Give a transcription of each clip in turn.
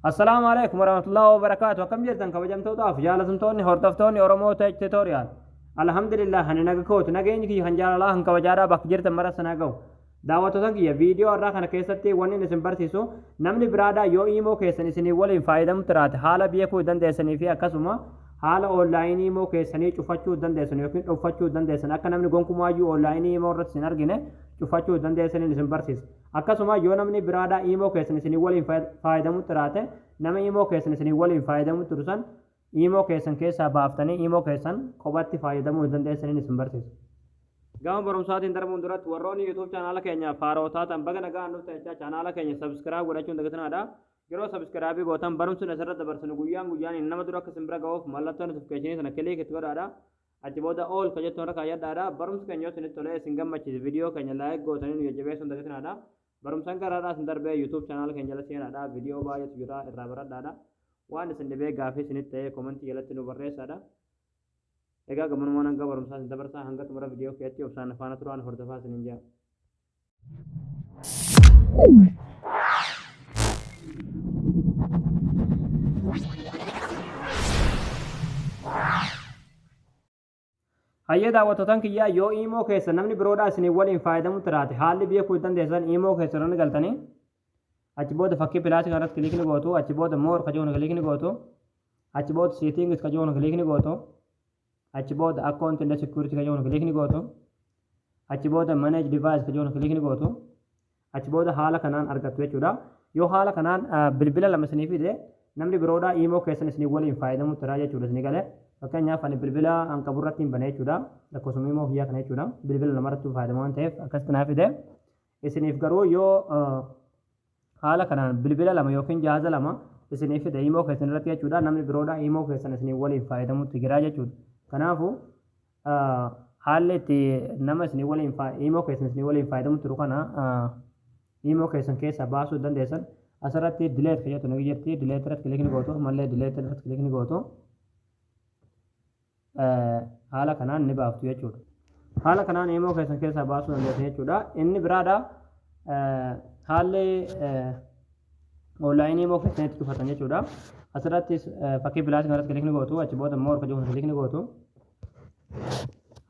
Assalaamu alaikum warahmatullahi wabarakaatu akkam jirtan kabajamtootaaf jaalatamtoonni hordoftoonni Oromoo Tech Tutorial Alhamdulillah ani naga kootu nageenyi kiyya kan jaalalaa kan kabajaadhaa bakka jirtan mara sana ga'u daawwattoota kiyya viidiyoo irraa kana keessatti wanni isin barsiisu namni biraadhaa yoo iimoo keessan isinii waliin faayadamu tiraate haala beekuu dandeessanii fi akkasuma haala oonlaayinii iimoo keessanii cufachuu dandeessan yookiin dhuunfachuu dandeessan akka namni gonkumaayyuu oonlaayinii iimoo irratti isin argine cufachuu dandeessaniin isin barsiisa. Akkasuma yoo namni biraadhaa iimoo keessan isinii waliin faayadamu xiraate nama iimoo keessan isinii waliin faayadamu xiru san iimoo keessan keessaa baaftanii iimoo keessan kophatti faayadamuu hin dandeessaniin isin barsiisa. Gama barumsaatiin darbuun duratti warroonni YouTube chaanaala keenyaaf haaroo taatan baga nagaan dhuftan jechaa chaanaala keenya subscribe godhachuun dagatinaadha. Yeroo subscribe gootan barumsi asirra dabarsinu guyyaan guyyaan nama dura akka isin bira ga'uuf mallattoo notification sana click itti godhaadha. Achi booda all ka jettu irra kaayyadhaadha. Barumsi keenya yoo isinitti tolee isin gammachiise video keenya like gootanii nu jajjabeessuun dagatinaadha. Barumsan gara har'aa isin darbee YouTube channel keenya jala seenaadha. Video baay'eetu jira irraa baradhaadha. Waan isin dhibee gaafii isinitti ta'ee komentii jalatti nu barreessaadha. Egaa gamanumaan hanga barumsaa isin dabarsaa hanga xumura video keetti obsaan faana turaan hordofaa isinin jaa. Hayyee daawwattootaan kiyyaa yoo iimoo keessa namni biroodhaa isin waliin fayyadamu tiraate haalli biyya kuutu dandeessan iimoo keessa irratti galtanii achi booda fakkii pilaasii kanarratti kiliikni gootu achi booda moor ka jiru kiliikni gootu achi booda siitingis ka jiru kiliikni gootu Achi booda account and security kan jedhu click ni gootu. Achi booda manage device kan jedhu click ni gootu. Achi booda haala kanaan argattu jechuudha. Yoo haala kanaan bilbila lama isinii fide namni biroodha imoo keessan isinii waliin fayyadamutti irraa jechuudha isinii galee. Fakkeenyaaf ani bilbila an qabu irratti hin bane jechuudha. Lakkoofsuma imoo kiyyaa kana jechuudha. Bilbila lama irratti fayyadamu waan ta'eef akkasitti naa fide. Isiniif garuu yoo haala kanaan bilbila lama yookiin jaaza lama isiniif fide imoo keessan irratti jechuudha namni biroodha imoo keessan isiniif waliin faayadamutti jira jechuudha. Kanaafu haalli itti nama isinii waliin imoo keessan isinii waliin faayadamu turu kana imoo keessan keessaa baasuu dandeessan asirratti dileet kan jettu ni jirti dileet irratti kilik ni gootu ammallee dileet irratti kilik ni gootu. haala kanaan ni baaftu jechuudha. Haala kanaan eemoo keessan keessaa baasuu dandeessu jechuudha. Inni biraadha haalli onlaayinii eemoo keessan itti cufatan jechuudha. Asirrattis fakkii bilaasii kanarratti kilikni gootu achi booda moor kajuun kilikni gootu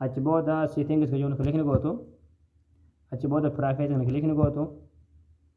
achi booda siitingis kajuun kilikni gootu achi booda piraayifeetiin kilikni gootu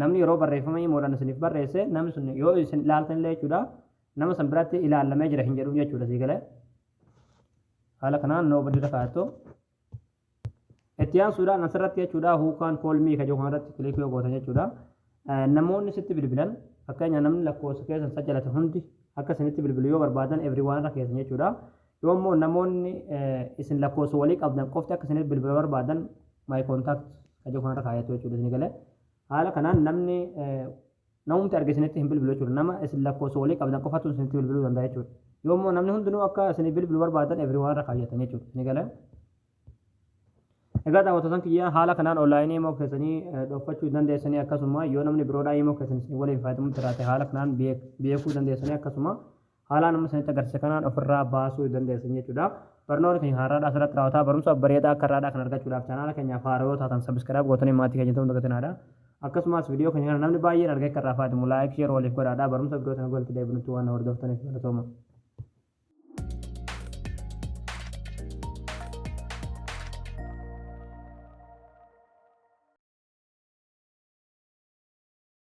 Namni yeroo barreeffama imoodhaan isiniif barreesse namni sun yoo isin ilaaltan illee jechuudha nama san biratti ilaallamee jira hin jedhuuf jechuudha sii galee. Haala kanaan noo badii kaa'attu. Itti aansuudhaan asirratti jechuudha huukaan koolmii kan jiru kanarratti kilikii yoo gootan jechuudha. Namoonni sitti bilbilan fakkeenya namni lakkoofsa keessan sajjalate hundi akka isinitti bilbilu yoo barbaadan everyone irra keessan jechuudha. Yoo immoo namoonni isin lakkoofsa walii qabdan qofti akka isiniif bilbila barbaadan my contact ka jedhu kanarra kaayatu jechuudha isin galee. Haala kanaan namni namumti arge isinitti hin bilbilu jechuudha. Nama isin lakkoofsa walii qabdan qofatu isinitti bilbiluu danda'a jechuudha. Yoo immoo namni hundinuu akka isiniif bilbilu barbaadan everyone irra kaayyatan jechuudha isin galee. Egaa daawwattootan kiyyaa haala kanaan onlaayinii immoo keessanii dhoofachuu dandeessanii akkasuma yoo namni biroodhaa immoo keessan isin waliin fayyadamutti jiraate haala kanaan beekuu dandeessanii akkasuma Haalaan amma isinitti agarsiise kanaan ofirraa baasuu dandeessan jechuudha. Barnoonni keenya har'aadhaa asirratti raawwata. Barumsa bareedaa akka har'aadhaa kan argachuudhaaf chaanaala keenyaaf haaraa yoo taatan sabiskiraayib gootanii maatii keenya ta'uun dagatinaadha. Akkasumas viidiyoo keenya kana namni baay'een argee akka irraa fayyadamu laayik sheer waliif godhaadha. Barumsa viidiyoo sana walitti deebinutti waan na hordoftaniif galatooma.